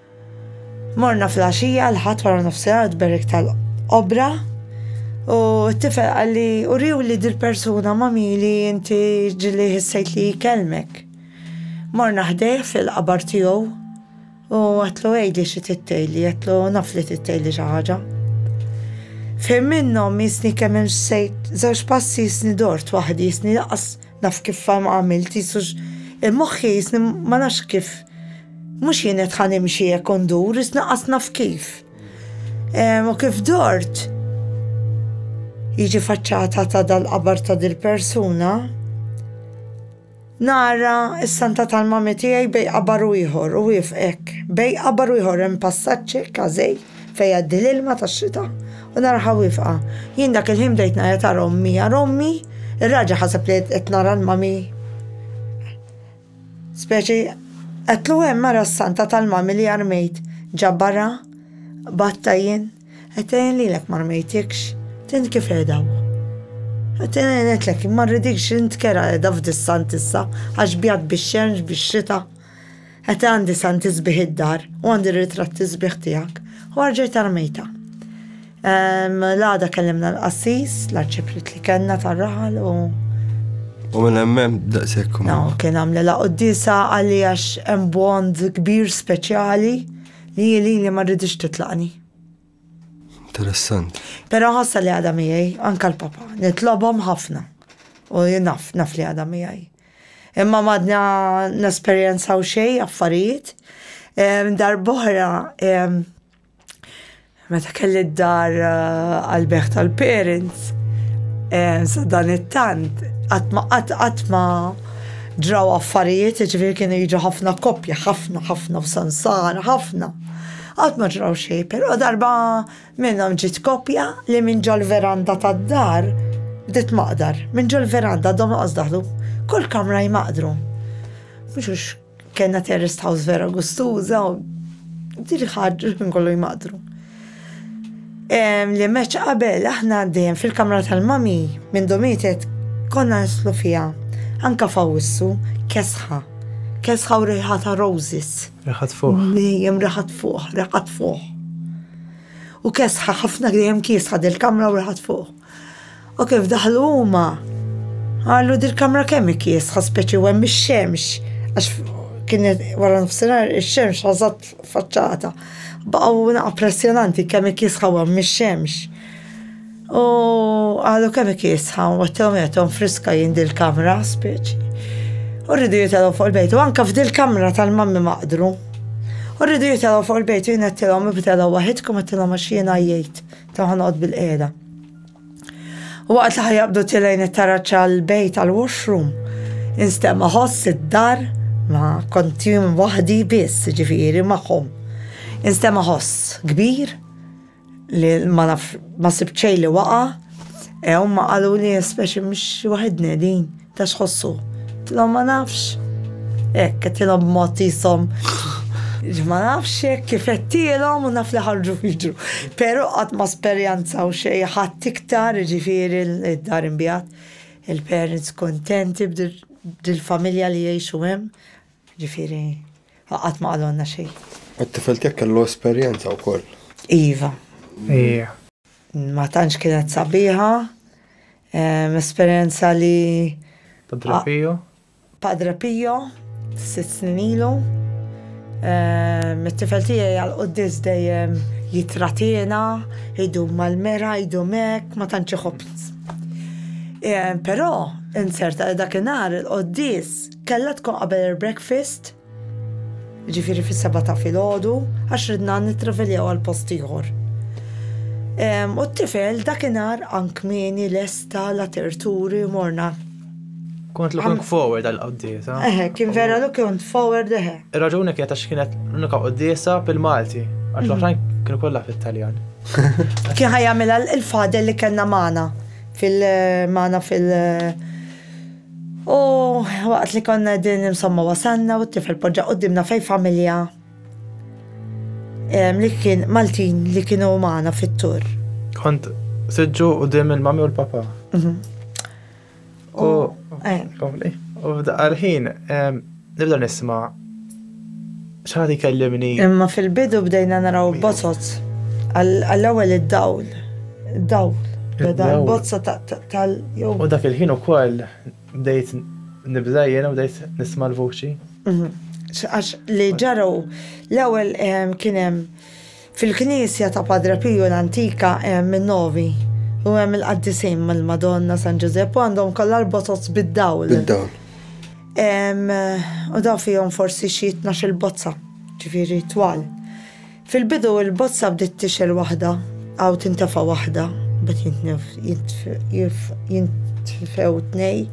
Morna fl-għaxija l-Ħadd wara nofsinhar għad-Berik tal-Qobra u t-tifel qalli uriewli dil-persuna ma' min li inti ġieli ħissejt li jkellmek. Morna ħdejh fil-qabar tiegħu u għedtlu għidli xi trid tgħidli, għedtlu naf li trid tgħidli xi ħaġa. F'ħin minnhom jisni kemm imxejt żewġ passi jisni dort waħdi jisni lanqas naf kif għamilt jisux il-moħħi jisni ma nafx kif Mhux jien qed ħa nimxi hekk u ndur, iżda lanqas naf kif. U kif dort, jiġi faċċata ta' dal-qabar ta' dil-persuna, nara s-santa tal-mami tiegħi bejn qabar u ieħor u wieqfa hekk. Bejn qabar u ieħor hemm passaġġ hekk għażejl fejn jgħaddi l-ilma tax-xita u naraha wieqfa. Jien dak il-ħin bdejt ngħajjat għal ommi, għal ommi, ir-raġel ħaseb li qed nara l-mami. Speċi qatlu hemm mara s-santa tal-mami li armejt ġa barra b'għatta jien qed ngħin lilek m'armejtikx t'int kif qiegħed hawn. Qed ngħin għedtlek ma rridikx int kerha qiegħda f'dis-sant issa għax bjadt bix-xemx bix-xita. Qed għandi santi sbieħ id-dar u għandi ritratti sbieħ tiegħek u arġajt armejta. L-għada kellimna l-qassis, l-arċiprit li kellna tar-raħal u. U minn hemmem daqshekk. No, kien għamle la qoddisa għalli għax hemm bond kbir speċjali li li li ma rridix titlaqni. Interessant. Però ħassa li għadha miegħi anka l-papa, nitlobhom ħafna. U naf, naf li għadha miegħi. Imma madna nesperjenzaw xejn affarijiet. Darbohra Meta kelli d-dar eh, għal-beħ tal-parents, eh, sa dan it-tant, għatma għatma ġraw affarijiet, ġifir kienu jiġu ħafna koppja, ħafna, ħafna f'sansar, ħafna. Għatma ġraw xej, pero darba minnhom ġit koppja li minn ġol-veranda tad-dar, dit maqdar, minn ġol-veranda dom daħlu, kull kamra jmaqdru. Mux Kenna terrest house vera gustuża u diri ħarġu kien kollu jmaqdru. Li meċ qabel aħna dejjem fil-kamra tal-mami minn domitet konna nislu fija. Anka fawissu kesħa. Kesħa u riħa ta' roses. Riħat fuq. Dejjem riħat fuq, riħat fuq. U kesħa ħafna dejjem kiesħa del-kamra u riħat fuq. U kif daħlu huma, għallu dil-kamra kemm ikiesħa speċi u hemm ix-xemx, għax kien wara nofsinhar ix-xemx ħażat faċċata. Baqgħu naqa' pressjonanti kemm ikiesħa u hemm ix-xemx. U għallu kemm ikiesħa u għattilhom jagħthom friska jien dil-kamra speċi. U rridu jitalgħu fuq il-bejt u anke f'dil-kamra tal-mammi maqdru. U rridu jitalgħu fuq il-bejt u jien għattilhom ibtelgħu waħidkom għattilhom għax jiena jgħid. Toħnoq bil-qiegħda. U waqt li ħajabdu tilejn it-taraġ għall-bejt għall-washroom, instema' ħoss id-dar ma kontim waħdi biss, ġifieri magħhom. Instema' ħoss kbir li ma naf ma sibċej li waqa' Ew ma qalu li speċi mhux waħedni din. Ta' x'ħossu? Għedtilhom ma nafx. Hekk, għedtilhom b'mod qishom ma nafx hekk kif għedtilhom u naf li ħarġu jiġru. Però qatt ma sperjanzaw xejn ħadd iktar, jiġifieri d-dar inbiegħet, il-parents kuntenti b'dil-familja li jgħixu hemm, jiġifieri qatt ma qalulna xejn. It-tifel tiegħek kellu esperjenza wkoll? Iva. Ma tantx kienet sabiħa, Esperjenza li. Padre Pio. Padre Pio, sitt snin ilu. Mit-tifel tiegħi għal quddis dejjem jitratina, idu mal-mera, idu mek, ma tantx iħobb. Però, inzerta li dakinhar il-quddis kellha tkun qabel il-breakfast. Jiġifieri fis-sebgħa ta' filgħodu għax ridna nittraveljaw għal post ieħor. U t-tifel dakinhar ank kmieni lesta la terturi morna. Kont looking forward għal qoddiesa. Eħe, kien vera looking forward eħe. Ir-raġuni kienet għax kienet l-unika qoddiesa bil-Malti, għax l-oħrajn kienu kollha fit-Taljan. Kien ħajjamilha il-fadel li kellna magħna fil-magħna fil- U waqt li konna qegħdin insomma wasalna u t-tifel poġġa quddiemna fejn familja li kien Maltin li kienu magħna fit-tour. Kont siġġu qudiem il-mami u l-papa. Mhm. U eh. u f'daqqa l-ħin Nibda nisma' x'ħadd ikellimni. Imma fil-bidu bdejna naraw bozoz. Għall-ewwel id-dawl. Id-dawl. Beda l-bozza tal. U dak il-ħin ukoll bdejt nibda jiena u bdejt nisma' l-vuċi. Għax li ġara hu l-ewwel kien hemm. Fil-knisja ta' Padre Pio l-antika hemm in-Novi u hemm il-qaddisin mal-Madonna, San Ġużepp u għandhom kollha l-botoz bid-dawl. Bid-dawl. U dawn fihom forsi xi tnax-il bozza, ġifieri twal. Fil-bidu il-bozza bdiet tixgħel waħda u tintefa' waħda, mbagħad jintfew tnejn.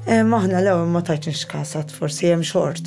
Aħna le, ma tgħidx nix kasat, forsi hemm xort.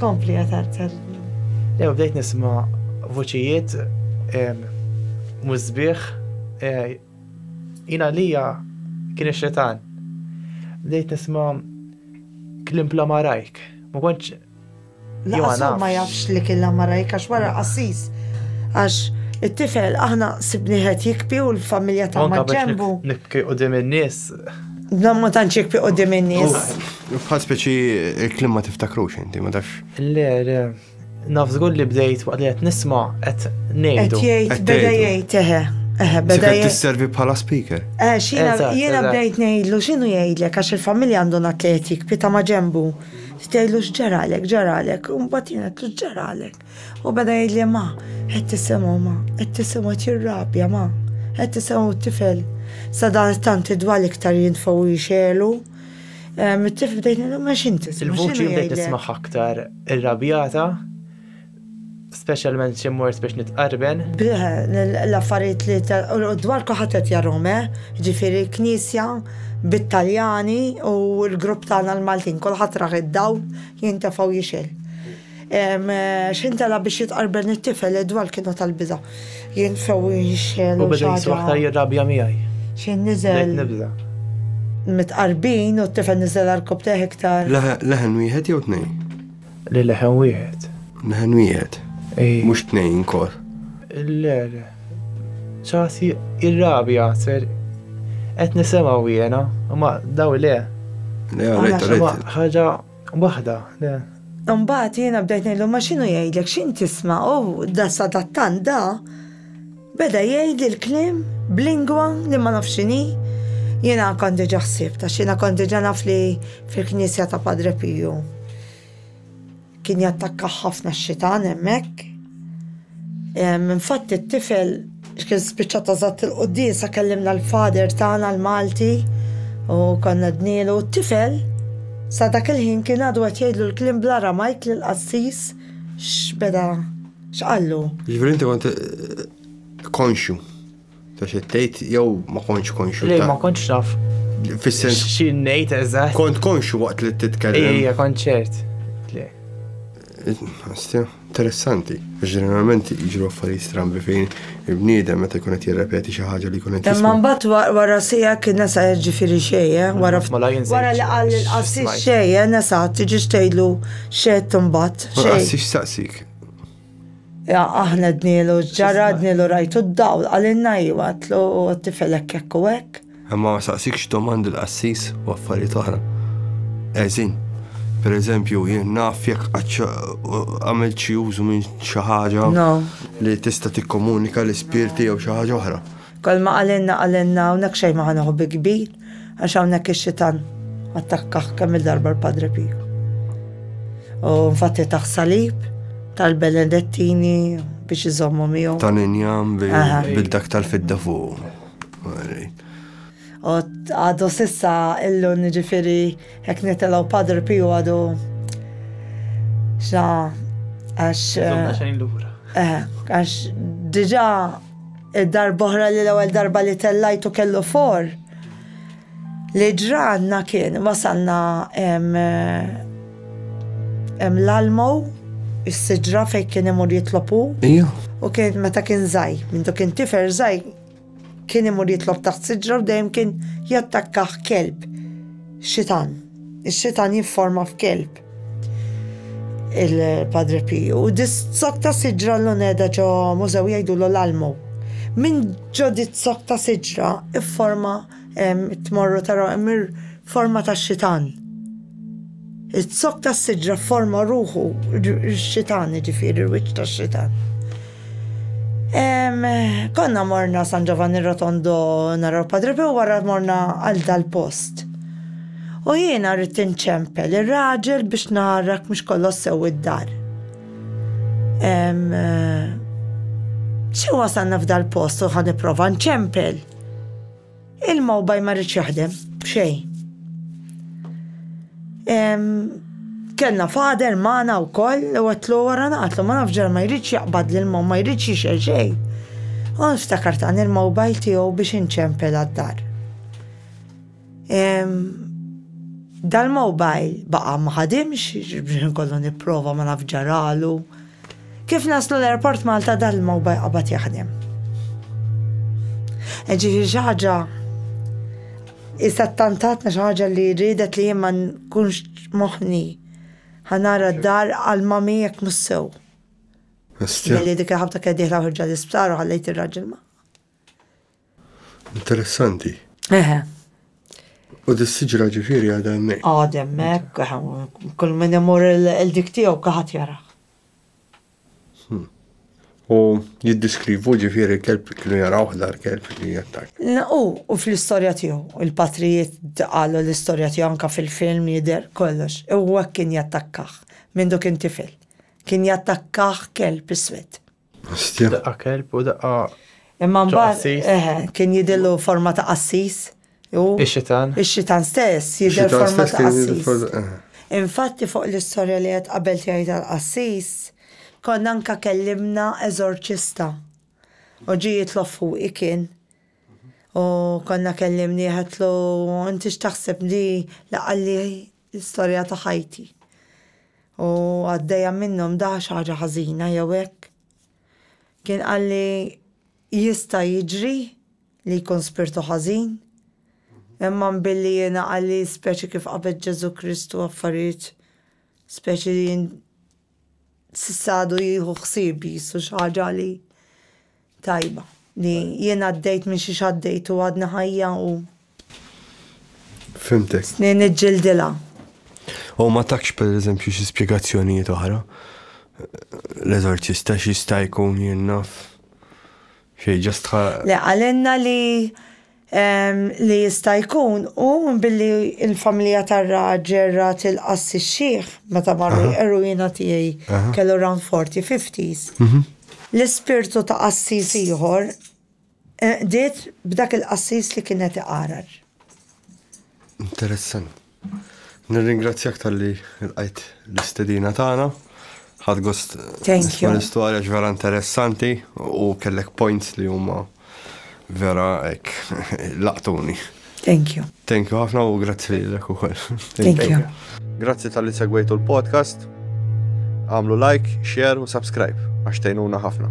Kompli għatar tal-lum. Ew, bdejt nisma vuċijiet mużbieħ e, jina lija kien xetan. Bdejt nisma klim bla marajk. Ma konċ. Jona. Ma jafx li kien la marajk għax wara qassis. Għax it-tifel aħna sibni ħed jikpi u l-familja ta' maġġembu. Nibki u dim in-nies. Dan ma tantx jikpi u dim in-nies. Bħal speċi il-kliem ma tiftakrux inti, ma tafx. Le, le, naf żgur li bdejt waqt li qed nisma' qed ngħidu. Qed jgħid, beda jgħid, eħe. Eħe, beda jgħid. tisservi bħala speaker. Eh, jiena bdejt ngħidlu x'inhu jgħidlek għax il-familja għandu atletik, pita ma' ġembu. Tgħidlu x'ġaralek, ġaralek, u mbagħad jien għedlu x'ġaralek. U beda jgħidli ma, qed tisimgħu ma, qed tisimgħu qed jirrabja ma, qed tisimgħu t-tifel. Sadan tant id-dwal iktar jintfgħu jixelu. Mit-tifel bdejt ngħidu ma x'inti. Il-vuċi bdejt nismaħ aktar irrabjata specialment xi mort biex nitqarben. L-affarijiet li dwar kulħadd qed jarhom, eh? Ġifieri knisja bit-Taljani u l-grupp tagħna l-Maltin, kulħadd rah id-dawl jintefgħu jixel. X'intalab biex jitqarbel it-tifel Edward kienet għall-biża'. Jien sew inxegħel u xi ħaġa. U beda jisma' aktar jirrabja miegħi. Xi niżel. Bdejt nibża'. Mitqarbin u t-tifel niżel għal rkopptejh iktar. Leħen wieħed jew tnejn? Le leħen wieħed. Leħen wieħed? Ej. Mhux tnejn inkor. Le le. Ċasi irrabja ser qed nisimgħu jiena, imma daw le. Le, rajt, rajt. Ħaġa Waħda, le. Imbagħad jiena bdejt ngħidlu ma x'inhu jgħidlek x'int tisma' u da sadattant da beda jgħidli l-kliem b'lingwa li ma nafx x'inhi. Jiena kont diġà ħsieb ta' xina kont diġà naf li fil-Knisja ta' Padre Piju kien jattakka ħafna x-xitan hemmhekk. Infatti t-tifel kien spiċċa ta' żatt il-quddiesa kellimna l-Father tagħna l-Malti u konna dnielu u t-tifel sa dak il-ħin kien għadu qed jgħidlu l-kliem bl-Aramajk li l-qassis x'beda x'qallu. Jiġifieri inti kont konxju. Ta' xi tgħid jew ma kontx konxu. Le ma kontx naf. Fis-sens. Xi ngħid eżatt. Kont konxu waqt li titkellem. Ejja, kont ċert. Le. Astja, interessanti. Ġeneralment jiġru affarijiet strambi fejn il-bniedem meta jkun qed jirrepeti xi ħaġa li jkun qed Imma mbagħad wara sija kien nesa jiġifieri xejn, eh, wara mela wara li qal il-qassis xejn, eh, nesa tiġi xtejlu xejn imbagħad. Xejn. Qassis saqsik. Aħna dnilu ġara, dnilu rajtu d-dawl, għalinna iwa, tlu t-tifel hekk hekk u hekk. Imma ma saqsikx domandi l-qassis u affarijiet oħra. Eżin, per eżempju, jien naf jekk għamil xi użu minn xi ħaġa li tista' tikkomunika l-ispirti jew xi ħaġa oħra. Kolma għalinna għalinna hawnhekk xejn ma ħanuħu bi kbir. Għax hawnhekk ix-xitan attakkah kemm il-darba l-Padre Pio. U nfatti taħ salib tal-Benedettini biex iżommu miegħu. Tal-injam bil-dak tal-fidda fuq. U għadu sissa illu nġifiri hekk nitelaw Padre Pio għadu xna għax. Zomna eh, xejn lura. Eh, għax diġa Darb'oħra li l-ewwel darba li tellajtu kellu for. Li ġranna kien wasalna hemm l-almo, is-siġra fejn kien imur jitlob hu. U kien meta kien żgħir, mindu kien tifel żgħir, kien imur jitlob taħt siġra u dejjem kien jattakkah kelb. Xitan. Ix-xitan jifforma f'kelb. il-Padre Piju, sokta siġra l-luneda ġo mużew jgħidu l-almu. Minn ġo dit sokta siġra forma tmorru taraw emir forma ta' xitan. Il-sokta siġra forma ruħu xitan ġifiri, il-wiċ ta' xitan. Konna morna San Giovanni Rotondo naraw Padre Pio wara morna għal dal-post. U jiena rrid inċempel ir-raġel biex narak mhux kollox sew id-dar. Xi wasalna f'dal-post u ħa nipprova nċempel. Il-mobile ma rridx jaħdem, b'xejn. Kellna fader magħna wkoll li għatlu wara naqatlu ma nafx ġara ma jridx jaqbad lil mom ma jridx jixel xejn. U nftakart għan il-mobile tiegħu biex inċempel għad-dar. Dal-mobile baqa ma ħadimx, biex nkollu nipprova ma nafx ġaralu. Kif naslu l-Airport Malta dan il-mobile qabad jaħdem. E ġifieri xi ħaġa issa tantatna xi ħaġa li riedet li jien ma nkunx moħħni ħanara d-dar għal mami jekk mhux sew. Li dik il-ħabta kien diħla ħorġa l-isptar u ħallejt ir-raġel ma. Interessanti. Eħe. U dis-siġra ġifiri għadha hemmhekk. Għad hemmhekk, kull min imur il-dik tiegħu kaħat jaraħ. Hmm. U jiddiskrivu ġifiri kelb kienu jaraw dar kelb li jattak. U, u fl-istorja tiegħu, il-patrijiet qalu l-istorja tiegħu anka fil-film jidher kollox, u kien jattakkaħ minn dok intifel. Kien jattakkaħ kelb iswed. Hostja. Daqqa kelb u daqqa. Imma mbagħad eh, kien jidillu forma ta' qassis. Ix-xitan. Ix-xitan stess jidher forma ta' qassis. Eh. Infatti fuq l-istorja li qed qabel tiegħi tal-qassis, konna anka kellimna eżorċista. U ġi jitlob fuqi kien. U konna kellimni ħatlu, inti x'taħseb li laqalli l-istorja ta' ħajti u għaddejja minnhom da xi ħaġa ħażina jew hekk. Kien qalli jista' jiġri li jkun spirtu ħażin, imma billi jiena qalli speċi kif qabed Ġesù Kristu affarijiet speċi li S'issa għadu jieħu ħsieb jqisu xi ħaġa li tajba. Li jien għaddejt minn xiex għaddejt u għadni ħajja u. Fhimtek. Snin niġġildilha. U ma takx pereżempju xi spjegazzjonijiet oħra. L-eżorċista x'jista' jkun jien naf. Xejn ġastħa. Le qalilna li li jista' jkun u billi l-familja tar-raġel ra tilqa' s-sixxiħ meta marru jqerru jiena tiegħi kellu around forty, fifties. L-ispirtu ta' qassis ieħor qdiet b'dak il-qassis li kien qed iqarar. Interessanti. Nirringrazzjak talli lqajt l-istedina tagħna. Ħadd gost Thank you. l-istorja vera interessanti u kellek points li huma vera ek laqtuni. Thank you. Thank you ħafna u grazzi lilek ukoll. Thank you. Grazzi tal-li segwejtu l-podcast. Għamlu like, share u subscribe għax tgħinuna ħafna.